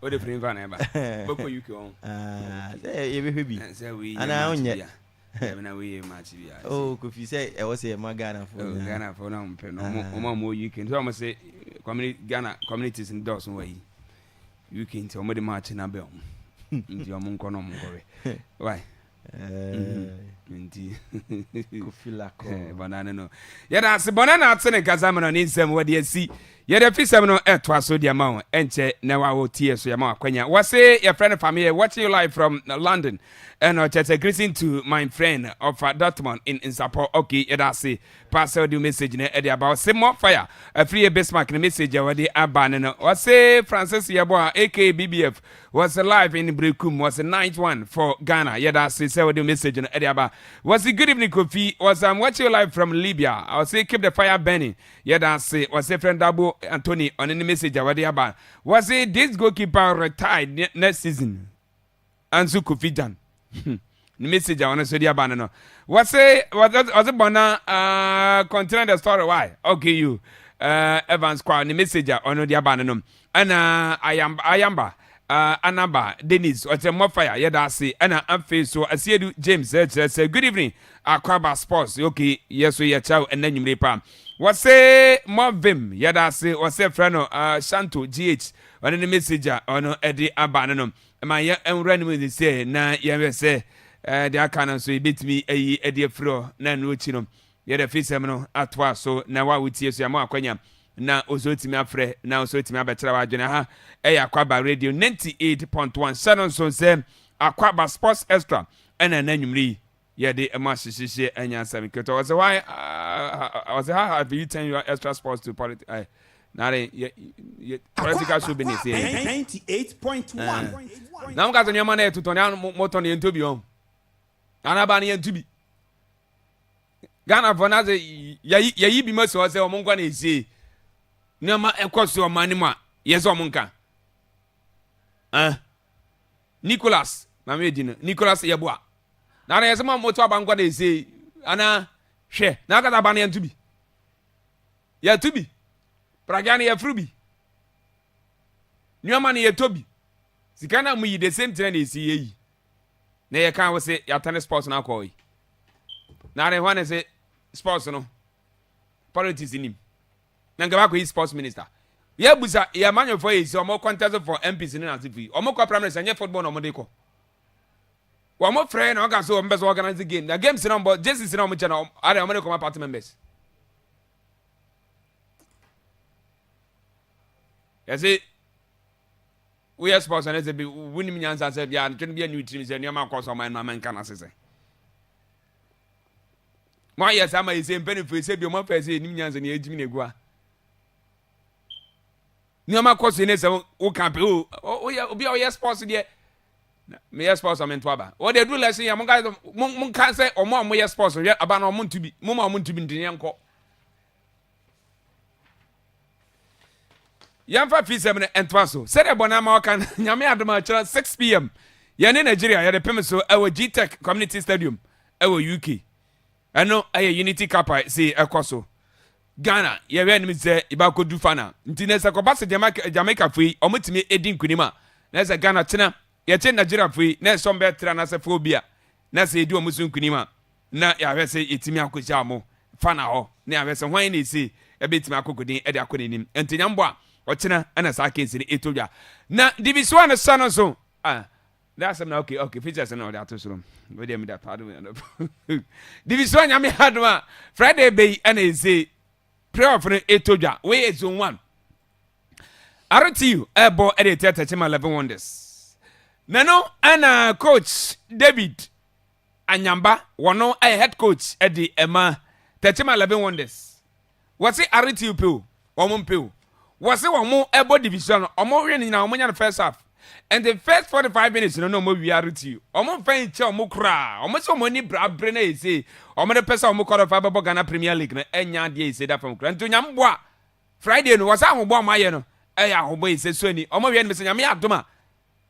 wode firi mfa na ɛba bɛkɔ uk ɔ sɛ yɛbɛhwɛ bi sɛ wei anaa wonyɛ na woyɛ match bi a oh kofi sɛ ɛwɔ sɛ ɛma Ghana fo na Ghana fo na ɔmpɛ no ɔma mo UK nti ɔmo se community Ghana communities no dɔɔso wɔ yi UK nti ɔmo de match na bɛ ɔmo nti ɔmo nkɔ na ɔmo nkɔ bɛ why mm-hmm. nti bɔnna ne no yɛda ase bɔnna na ate ne nkasa mu no ne nsɛm wɔde asi yɛde fi sɛm no ɛtoa so deɛ ma wo ɛnkyɛ na wa wɔ tie so yɛma wakwanya wɔse yɛfrɛ no fameyɛ watching you live from london ɛna ɔkyɛ sɛ greeting to my friend ɔfa dortmund in nsapɔ okay yɛda ase Pa sɛ ɔde wo message no de aba. Ɔse more fire afiri yɛ Bismarck ne message a ɔde aba no no. Ɔse Francis Yeboah aka BBF wɔse live in Brekum wɔse night one for Ghana. Yɛda ase sɛ ɔde wo message no de aba. Wɔse good evening Kofi wɔse I'm watching you live from Libya. Ɔse keep the fire burning. Yɛda ase. Wɔse friend Dabo Anthony ɔne ne message a ɔde aba. Wɔse this goalkeeper retired ne next season. Anso Kofi Gyan ne message a ɔno nso de aba no no. Wɔse ɔdze bɔ na uh, continue the story why? Okay you uh, Evans Kwa ne message a ɔno de aba no no. Ɛna Ayamba, Ayamba uh, Anaba Dennis ɔkyerɛ mmɔ fire yɛda ase. Ɛna afei so Asiedu James ɛkyerɛ sɛ good evening Akwaba sports okay yɛ so yɛkyerɛ wo ɛnna nwumire pa. Wɔse mmɔ vim yɛda ase wɔse frɛ no uh, Shanto GH ɔne ne message a ɔno de aba no no. Ma yɛn nwura no mu sisɛ na yɛnhwɛ sɛ deɛ aka no nso yɛbɛtumi ayi ɛde afiri hɔ na ɛno akyi no yɛde afisɛm no atoa so na wo a wotie so yɛama wakwanya na ɔsɛ ɔtumi afrɛ na ɔsɛ ɔtumi abɛkyerɛ w'adwene ha ɛyɛ akwaba radio 98.1 hyɛ no nso sɛ akwaba sports extra ɛna na nwumere yi yɛde ma sisisi ɛnyɛ asɛm nketewa ɔsɛ why ɔsɛ how have you turned your extra sports to politics ɛ na de yɛ yɛ political show bi na ɛsɛ yɛ ninety eight point one na mo ka sɛ nneɛma na yɛ tutɔ na mo tɔ na yɛ ntobi wɔn anaba na yɛ ntobi ghana fɔ na sɛ yɛyi yɛyi bi ma si hɔ sɛ wɔn nkɔ na esie nneɛma ɛkɔ so ɔman ne mu a yɛ sɛ wɔn nka ɛn. Nicholas na me di no Nicholas yɛboa na na yɛsɛ ma moto aba nkɔ na ɛsei ana hwɛ na aka sɛ aba no yɛnto bi yɛto bi pragya no yɛforo bi nneɛma no yɛtɔ bi sika no a moyi the same thing na ɛsi yɛyi na yɛka wo sɛ yɛatane sports no akɔɔ yi na ne hɔ ne sɛ sports no politics nim Na nka wakɔ yi sports minister. Yɛ busa yɛ amanyɔfoɔ yɛ si ɔmo contest for MPs ne n'asefo yi. Ɔmo kɔ primaries ɛnyɛ football na ɔmo de kɔ. Ɔmo frɛ na ɔka so ɔmo pɛ sɛ organize game na games na ɔmo bɔ jerseys na ɔmo kyɛ na ɔmo ara ɔmo de kɔma party members. Yɛse woyɛ sports na ɛsɛ bi wonim nyansa sɛ bia ntwene bi ani tirim sɛ nneɛma akɔ so ɔmo ɛno ama nka n'asesɛ. Moayɛ saa ama yɛn sɛ mpanimfoɔ yi, sɛ bio moafa yɛ sɛ yɛnim nyansa na yɛagyimi na agua. Nneɛma kɔ so ne sɛ woka pɛ o, woyɛ obi a ɔyɛ sports deɛ, meyɛ sports a mento aba. Wɔde aduru lɛsen yɛ, monka sɛ ɔmo a moyɛ sports hwɛ aba no ɔmo nto bi, moma ɔmo nto bi ntene yɛnkɔ. yɛmfa fisɛm no ntoa so sɛdeɛ bɔne ama ɔka no nyame adom a kyerɛ 6pm yɛne nigeria yɛde pem so ɛwɔ gtech community stadium ɛwɔ uk ɛno ɛyɛ unity cup a si ɛkɔ so ghana yɛhwɛ anim sɛ yɛbɛakɔdu fana nti na sɛ kɔba sɛ jamaica fo yi ɔmotumi ɛdi nkonim a na sɛ ghana kyena yɛkye nigeria fo yi na ɛsɔm bɛɛtra no asɛ fo bi a na sɛ yɛdi ɔmo so nkonim a na yɛahwɛ sɛ yɛtumi akɔhyia ɔmo fana hɔ na yɛahwɛ sɛ hwan na ɛse ɛbɛtumi akɔkɔdin ɛde akɔ n'anim nti nyambɔ a ɔkyena ɛna saa case no ɛtɔ dwa na divisoa no sɛ no nso ah na asɛm na okay okay features no ɔde ato soro wo deɛ meda paa dom divisoa nyame adom a friday bɛyi ɛna ɛse playoff no ɛtɔ dwa wei yɛ zone one RTU ɛbɔ ɛde ɛtɛ tɛkyema 11 wonders na no ɛna coach David Anyamba wɔ no ayɛ head coach de ma Tetima Eleven Wonders. Wɔse Aretew pe o, wɔn mpe o. Wɔse wɔn bɔ division no, wɔn win nyinaa wɔn nya no first half. Nti first forty five minutes no na wɔn wia Aretew. Wɔn mfa nkyɛ wɔn koraa. Wɔn se wɔn ani bra abere na ayɛ sei. Wɔn de pɛ sɛ wɔn qualify bɛbɔ Ghana Premier League no ɛnyɛ adeɛ ayɛ sei da fam koraa. Nti Onyame boa Friday no wɔse ahoboa wɔn ayɛ no ɛyɛ ahoboa ayɛ sei. So ani wɔn wia no me se Nyame yɛ adom a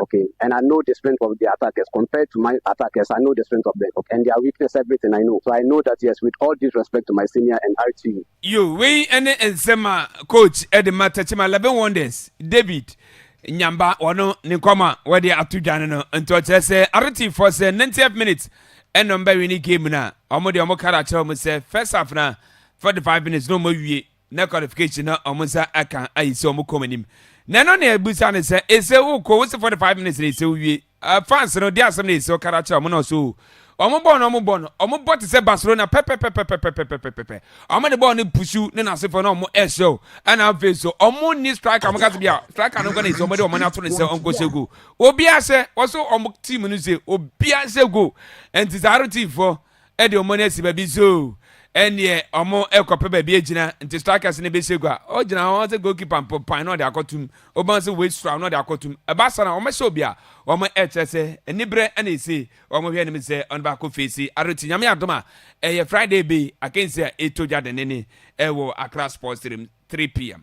okay and I know the strength of their attackers compared to my attackers I know the strength of them okay and their weakness everything I know so I know that yes with all due respect to my senior and RT. Yo, wei ne nsɛm a coach de ma Techiman Leben Wonders David Nyamba wɔno ne nkɔm a wɔde ato dwa no no nti ɔkyerɛ sɛ arotifoɔ sɛ 90th minute ɛna ɔmbɛwene game no a ɔmo deɛ ɔmo kara akyerɛ ɔmo sɛ first half na 45 minutes na ɔmo awie na qualification na wɔn nsa aka ayi sɛ wɔn kɔm anim na ɛno na ebusa no sɛ ese wokɔ wosi forty five minutes na ese wie fans no de asɛm na ese ɔkara akyerɛ wɔn na ɔso wɔn bɔɔl no wɔn bɔ no wɔn bɔ te sɛ barcelona pɛpɛpɛpɛpɛpɛpɛpɛpɛ wɔn de bɔɔl no pusu ne n'asefo na wɔn ɛhyɛw ɛna afei so wɔn ni striker wɔn kasa bi a striker no nkɔ na ese wɔn de wɔn ato ne sɛ ɔnkɔ sɛ goal obiara sɛ wɔso wɔn team no sɛ obiara sɛ goal nti saa aro team fo. de wɔn ani asi baabi zoo, ɛnneɛ wɔrekɔpɛ baabi agyina, nti strikers no bɛhyɛ gua, ɔgyina hɔ sɛ goalkeeper mpo pan na ɔde akɔtom, wobɛhu sɛ waste a na ɔde akɔtom, ɛba saa na wɔhyɛ obi a, wɔkyerɛ sɛ aniberɛ na ɛsi, wɔhwɛ anim sɛ ɔno bɛakɔ feesi ado nti Nyame adom a, ɛyɛ Friday bi, akansi a ɛtɔ dwa dennenen wɔ Accra Sports Stadium, 3pm.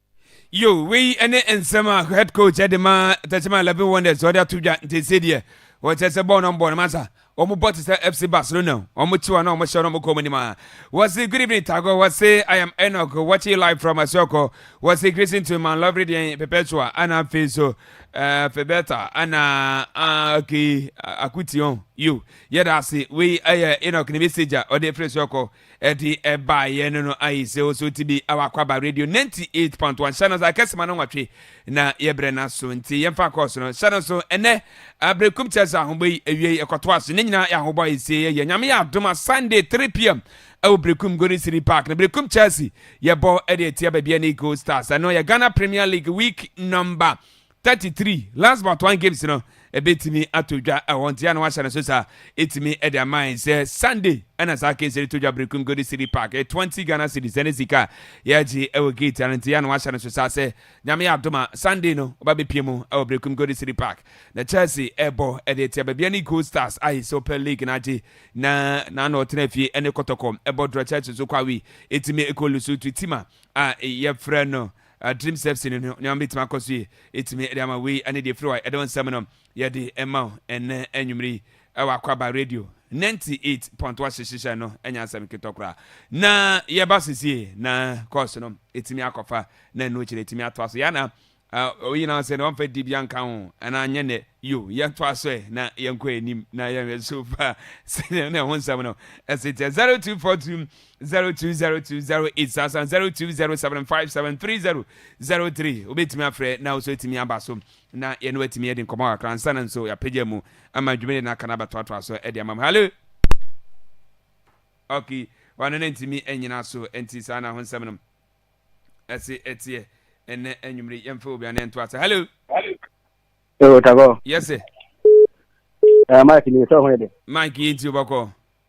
Yo, wei ne nsɛm a head coach de ma Tɛkyɛma Eleven Wonders ɔde ato dwa nti sɛ deɛ wɔkyerɛ sɛ bɔɔl no bɔɔl no masa wɔn bɔ te sɛ FC Barcelona wɔn kyiwa na wɔn hyɛ wɔn kɔn mu nim a wɔsi good evening Tago wɔsi I am Enoch watching you live from Asuako wɔsi greeting to my lovely deɛ Perpetua ana afei so ɛɛ eh, Febeta ana ah, okay Akution yo yɛda ase wei ɛyɛ Enoch ne message a ɔde efiri Asuako Ɛde baeɛ no no ayi sɛ ɔsɔ ti bi awɔ akwaba radio 98.1 hyɛ no so akɛse ma no nwɔtwe na yɛbrɛ no aso nti yɛmfa akɔɔ so no hyɛ no so ɛnɛ abrɛkum kyɛ sɛ ahobɔ yi awie ɛkɔtoa so ne nyinaa yɛ ahobɔ a ɛsie yɛyɛ nyame yɛ adom a sunday 3pm ɛwɔ brekum golden city park na brekum chelsea yɛbɔ ɛde atia baabi ne gold stars ɛno yɛ ghana premier league week number Thirty three, Last but one games no ɛbɛtumi atɔ dwa ɛhɔ nti ana wahyɛ no so saa ɛtumi ɛde ama yɛn sɛ Sunday ɛna saa case no to dwa Berekum Golden City Park ɛ twenty Ghana cedis ɛne sika a yɛagye ɛwɔ gate ano nti ana wahyɛ no so saa sɛ nyame adom a Sunday no ɔba bɛpie mu ɛwɔ Berekum Golden City Park na Chelsea ɛbɔ ɛde tia baabi ne Gold Stars a yɛ Super League no agye na na na ɔtena fie ɛne kɔtɔkɔ ɛbɔ drɔ Chelsea so kɔ awi ɛtumi ɛkɔ Lesotho tima a yɛfrɛ no Adream sepsine no nneɛma betumi akɔ so yie etumi de ama wei ne deɛ efiri hɔ a yɛde wo nsɛm no yɛde ɛma wo ɛnɛ anwummerɛ yi ɛwɔ akwaba radio 98.1 hyehyehyɛ no ɛnyɛ asɛm ketɔ koraa na yɛba so sie na kɔɔso no etumi akɔfa na ɛno kyerɛ etumi atoa so yɛana oyi na ɔsɛ na wɔmfa di bia nka ho ɛna nyɛ nɛ yo yɛntoa so ɛ na yɛnkɔ anim na yɛnhwɛ so fa sɛdeɛ ne ho nsɛm no ɛsɛ tiɛ 0242 zero two zero two zero eight sasa zero two zero seven five seven three zero zero three wobɛtumi afrɛ na wosɔ atumi aba so na yɛne watumi yɛde nkɔmmɔ kakra nsa na nso yɛapagya mu ama dwumadi no aka no abɛtoatoa so de ama mu hallo okay wano no ntumi anyina so nti saa na ho nsɛm no ɛse ɛteɛ ɛnɛ anwummere yɛmfa obi ane nto ase hallo Yo, Tago. Yes, sir. Uh, Mike, you saw where they. Mike, you into your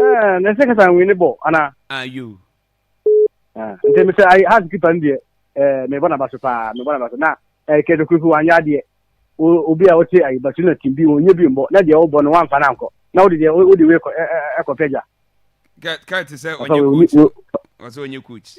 Eh, na se kasa nwini bɔ ana. Ayo. Ah, nti me se ai has kipa ndie. Eh, me bona baso pa, me bona baso. Na eh kedo kufu wanya adie. Obi a wote ai baso na timbi onye bi mbo. Na dia wo bɔ no wan fa na nko. Na wodi dia wodi we ko eh eh ko peja. Ka ka te se onye coach. Wase onye coach.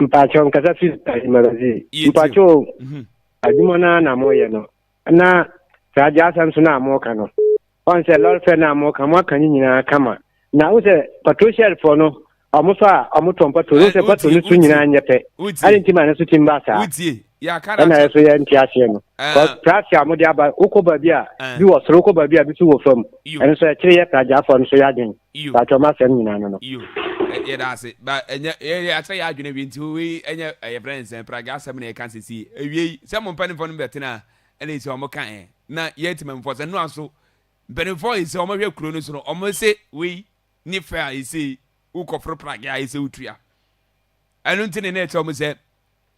Mpakyɛw nkasa fi Adwumadazii. Mpakyɛw o, mhm. adwuma no na moyɛ no na saa agya asɛm so no a moka no ɔn sɛ lɔre fɛ no a moka moaka ne nyinaa kama na wo sɛ pato hyɛrfoɔ no ɔmo so a ɔmo tɔn pato no sɛ pato no so nyinaa nyɛ pɛ ade nti ma ne so tim ba saa. wotie ɛna yɛ so yɛ nte aseɛ no prase a mode aba wokɔ baabi a bi wɔ soro wokɔ baabi a bi so wɔ fam ɛno so ɛkyere yɛ pragyafoɔ no so yɛ adwen baatwɛ ɔma asɛm nyinaa no no yɛda ase akyerɛ yɛ adwene wie nti wei ɛnyɛ yɛfrɛ ne sɛ pragya asɛm na yɛka sesie awiei sɛ mo mpanimfoɔ no bɛtena a ɛna ɛsɛ ɔmo ka ɛ na yɛ atimamfoɔ sɛ noa so mpanimfoɔ ɛsɛ ɔmo hwɛ kuro no so no ɔmo se wei ne fɛ a ɛsɛ wokɔforo pragya a ɛsɛ wotua ɛno nti ne na ɛkyerɛ ɔmo sɛ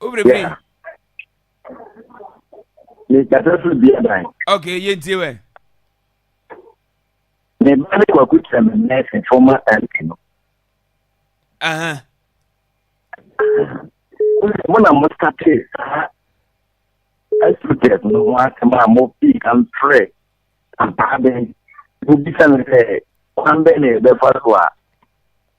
wobere bi mekasa firi bia dan ok yɛntie wɛ ne ba ne kwaku kyerɛ me nɛɛse fɔma mp no mo na mo sate saa asutɛs no ho asɛm a mo pii ka mfrɛ ampaa bɛn mobisa no sɛ kwan bɛn na yɛbɛfa so a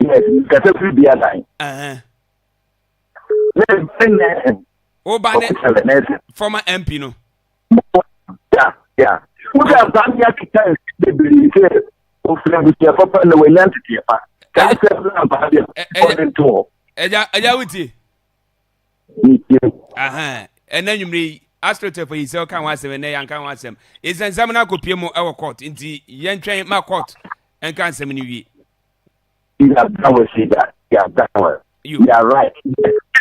Yes, kasa firi bi adan. Woba ne former MP no. Yeah, yeah. Wúdà oh. bá mi akita bebree sẹ òfin abusua papa na wọ́n nya tètè pa. Káà sẹ́ fún náà bá a bẹ̀ ọ̀dẹ̀ tó wọ̀. Ẹja ẹja wò tiẹ̀. Ẹnna nyimire yi asopɛtɛ fɔ yi sɛ ɔka ho asɛm ɛnɛ yɛn ka ho asɛm nsɛnsɛm no akɔpie mu ɛwɔ court nti yɛntwɛn ma court ɛnka nsɛm no wie yɛada wɔ si da yɛada wɔ yɛ right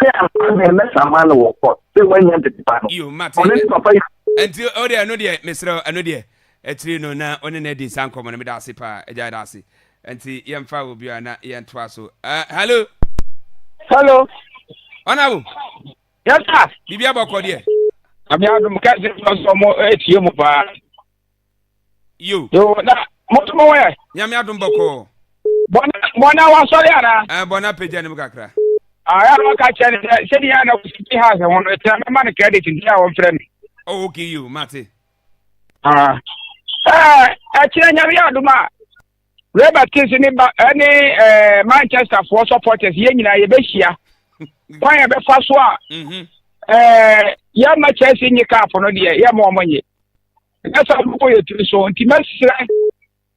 ɛyɛ ama mɛ mɛsa ama no wɔ kɔ sɛ wɔanya tete pa no ɔne ne papa yi. nti o deɛ ɛno deɛ mesrɛ ɛno deɛ akyiri no na ɔne no adi saa nkɔmmɔ no meda ase paa agya da ase nti yɛmfa wɔ biara na yɛntoa so uh, hello hello ɔnabo yes sir biribi abɔkɔ deɛ ame adom kɛse sɛ ɔsɔ mo atie mu paa yo. yo na mo nso mo wɛ. nyame adom bɔkɔɔ. bɔna bɔna wasɔre ana. ɛɛ eh, bɔna pagya ne mu kakra. ayɛ ah, na ɔka kyerɛ ne sɛ sɛdeɛ yɛ na wosi ti ha sɛ ho no ɛtena mɛma no credit nti a wɔmfrɛ me. oh okay yo mate. ah ɛɛ eh, ɛkyerɛ nyame yɛ adom a. Robert Kings ne ba ɛne eh, ɛɛ eh, Manchester foɔ supporters yɛn nyinaa yɛbɛhyia kwan yɛ bɛfa so a ɛɛ yɛn ma Chelsea nye cup no deɛ yɛn ma wɔn nye. ɛnyɛ saa no kɔ yɛ tiri so nti mɛsrɛ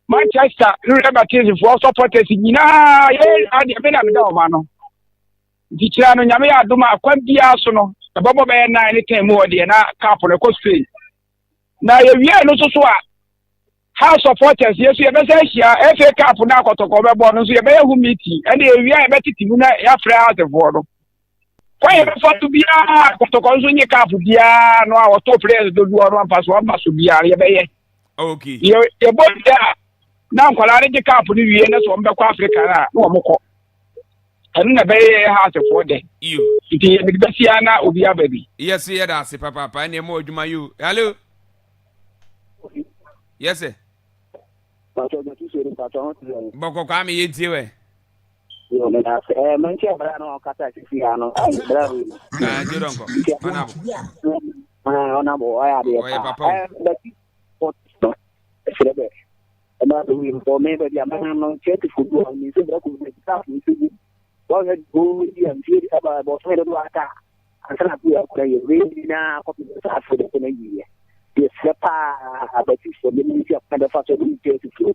manchester rurɛ baptistefoɔ supporters nyinaa yɛyɛ adeɛ me na meda ɔma no nti kyerɛ no nyame yɛ adom a kwan biara so no ɛbɛbɔ bɛyɛ nan ne tɛn mu hɔ deɛ na cap no ɛkɔ spain na yɛwie no nso so a house supporters yɛso yɛbɛsɛ ahyia fa cap no akɔtɔkɔ bɛbɔ no nso yɛbɛyɛ ho meeting ɛne yɛwie a yɛbɛtete mu na yɛafrɛ housefoɔ no kwaeɛ no fa to biara kɔtɔkɔ nso nye kaaf biara no a wɔto players dodoɔ no ampa so aba so biara yɛbɛyɛ yɛbɔ wie a na nkwadaa no gye kaaf no wie na sɛ wɔbɛkɔ afrika no a na wɔkɔ ɛno na ɛbɛyɛ yɛ haasefoɔ dɛ nti yɛmede bɛsia na obi aba bi yɛse yɛda ase papaapa ɛne ɛma adwuma yo hallo yɛsɛ bɔkɔkɔ a meyɛ ntie wɛ Yo, meda ase. Eh, menti abira no ɔkasa sisi ya no. Ai, bra wi. Ah, jero nko. Nti ɛho na. Ah, ona bo, ɔyɛ adeɛ pa. papa. Eh, bati. Pot no. Ɛsrɛ bɛ. Ɛma bɛ wi mbɔ me bɛ bi a mɛnam no nkyɛ te fo bi a mi nso bra ko mi ta fo nso bi. Wɔn yɛ bo bi a ntie ɛba ɛbɔ so yɛ do ata. Ansa na bi akora yɛ wi na kɔpi sa afo de ko na yie. Yɛ srɛ paa abati fo de mi nti akɔna bɛ fa so de mi nkyɛ te fo.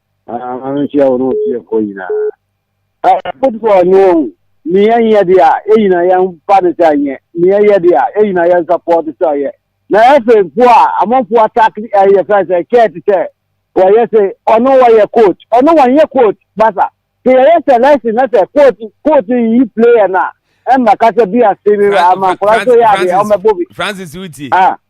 Anhyia wo ne wo fiefoɔ nyinaa. Potifar ɔnyɛ wɔn ne yɛn yɛ deɛ a yɛn nyinaa yɛn ba ne sɛ yɛn ne yɛn yɛ deɛ a yɛn nyinaa yɛn support sɛ ɔyɛ na ɛfɛ fo a amanfo attack ɛyɛ fɛ sɛ kɛɛt sɛ wɔyɛ sɛ ɔno wɔyɛ coach ɔno wɔn yɛ coach basa sɛ yɛyɛ sɛ lɛsin na sɛ coach coach yi player na ɛmma kasa bi ase ne ama nkora so yɛ adeɛ ɔmɛbɔ bi. Francis wuti. Ah.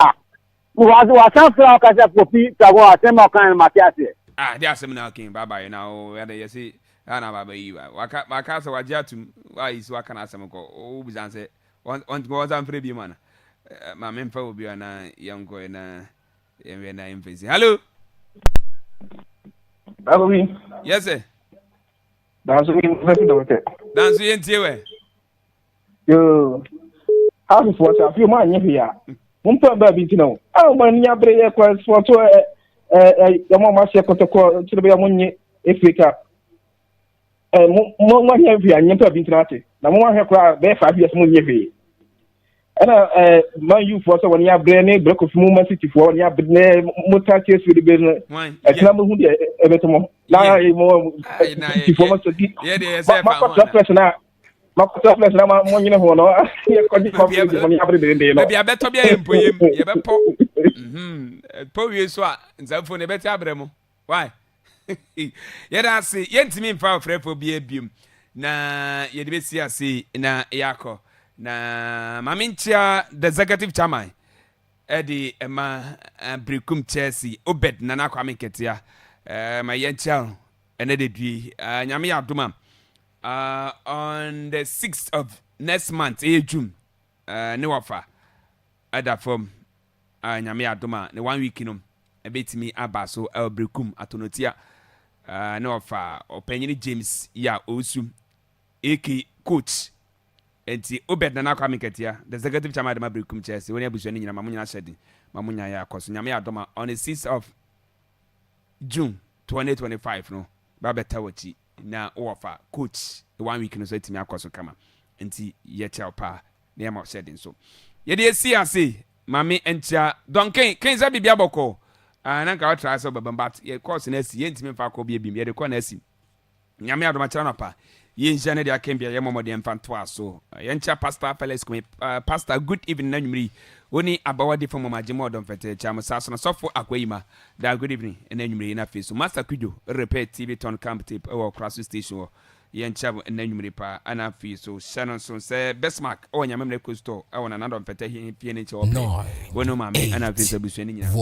Ah, wɔ wasan fira ɔka sɛ popi sago asɛm a ɔkan no ma te aseɛ. Ah, de asɛm na ɔkan baba yɛ na o yɛ de yɛ se ah na baba yi ba waka waka sɛ wagye atum wa yi so aka na asɛm kɔ o bu san sɛ wɔn wɔn wɔn san fira bi mu ana ma me mfa obi ana yɛn kɔ yɛ na yɛn wɛ na yɛn fɛ si hello. Baba mi. Yes sir. Danso mi nfa si dɔm sɛ. Danso yɛn tie wɛ. yoo half for sa fi mo anye hwe a mo mpa ba bi ntina o a mo ani abere yɛ kwa so to ɛ ɛ yɛ mo ma se kotoko kyerɛ bɛ mo nye efrika ɛ mo mo mo anye hwe anye mpa bi ntina ate na mo ahwe kora bɛ fa bi as mo nye hwe ɛna ɛ man yu fo sɛ wɔn abere ne bere kofi mo ma city fo wɔn abere ne mo ta tie so de bɛ no ɛtina mo hu de ɛbɛtɔ mo na mo city fo mo so di ma ma kɔtɔ pɛs na makuta flex na ma mo nyene ho no yɛ kɔgye ma bi de mo ne abere bere de no baabi abɛtɔ bi ayɛ mpoyem yɛbɛpɔ mhm. pɔ wie so a nsafo no yɛbɛte abrɛ mo why yɛda ase yɛntumi mfa ɔfrɛfoɔ bi abiom na yɛde bɛsi ase na yɛakɔ na maame nkyia the executive chairman ɛde ɛma eh, birikum chelsea obed nana kwame nketea eh, ma yɛnkyia no ɛnɛ de due eh, nyame yɛ adom a Uh, on the sixth of next month ɛyɛ june uh, ne wafa ɛda fam uh, nyame adom a ne one week no ɛbɛtumi aba so ɛwɔberekum atonotia uh, ne wafa ɔpanyini james yi a ɔresu aka coach nti obed nana akɔ amekatia the executive chairman adama berekum kyerɛ sɛ wɔne abusua no nyina ma mo nyina hyɛ den ma mo nyaeɛ akɔ so nyame adom a on the sixth of june 2025 no Ba bɛta wakyi na wowɔ fa coach one week no so atumi akɔ so kama nti yɛ kyɛw paa na yɛ ma wo hyɛden so yɛde asi ase mame nkyia dɔn ken ken sɛ bibia bɔkɔ ah na nka wotra sɛ ɔbɛbam but yɛ course no asi yɛ ntimi mfa kɔ bia bim yɛde kɔ na asim nyame adom akyerɛ anɔpa Yɛ nhyira no de aka bia yɛ mmɔ mmɔden mfa ntoa so. Yɛ nkyira Pastor Felix Kumi. Uh, Pastor, good evening anwumere yi. Wo ne abawa difo mmom agye mu ɔdɔ mfɛtɛɛ kyɛ amosa so no sɔfo akwa yi ma. Da good evening ɛna anwumere yi na afei so Master Kudwo repair TV ton camp tape ɛwɔ ɔkora so station hɔ. Yɛ nkyira mo ɛna anwumere paa ɛna afei so hyɛ no nso sɛ Bismarck ɛwɔ nyame mmerɛ kuro store ɛwɔ nana dɔ mfɛtɛ hie fie ne nkyɛ ɔpɛ wo ne maame ɛna afei so abusua ne nyina.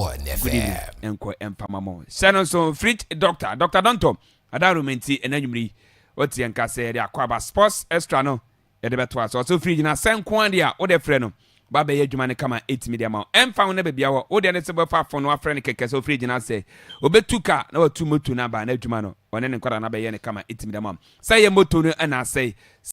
Good evening ɛnkɔ ɛmfa ma mo. Hyɛ no nso fridge doctor Doctor Donto Adaroma nti, ɛnnɛ anwummere yi, wote yɛn nka sɛ yɛde akɔ aba. Sports Extra no, yɛde bɛtoa so. Ɔsɛ ofiri gyina sɛ nko ara deɛ a, wode frɛ no, ba bɛyɛ adwuma no kama atumi de ama wo. Ɛmfa ho na baabi a wɔ, wo deɛ ne sɛ wobɛfa fon no wafrɛ no kɛkɛ sɛ ofiri gyina sɛ. Obetu ka na watu moto no aba, na adwuma no, ɔne ne nkwadaa no abɛyɛ no kama atumi de ama wo. Sɛ ɛyɛ moto no na asɛe,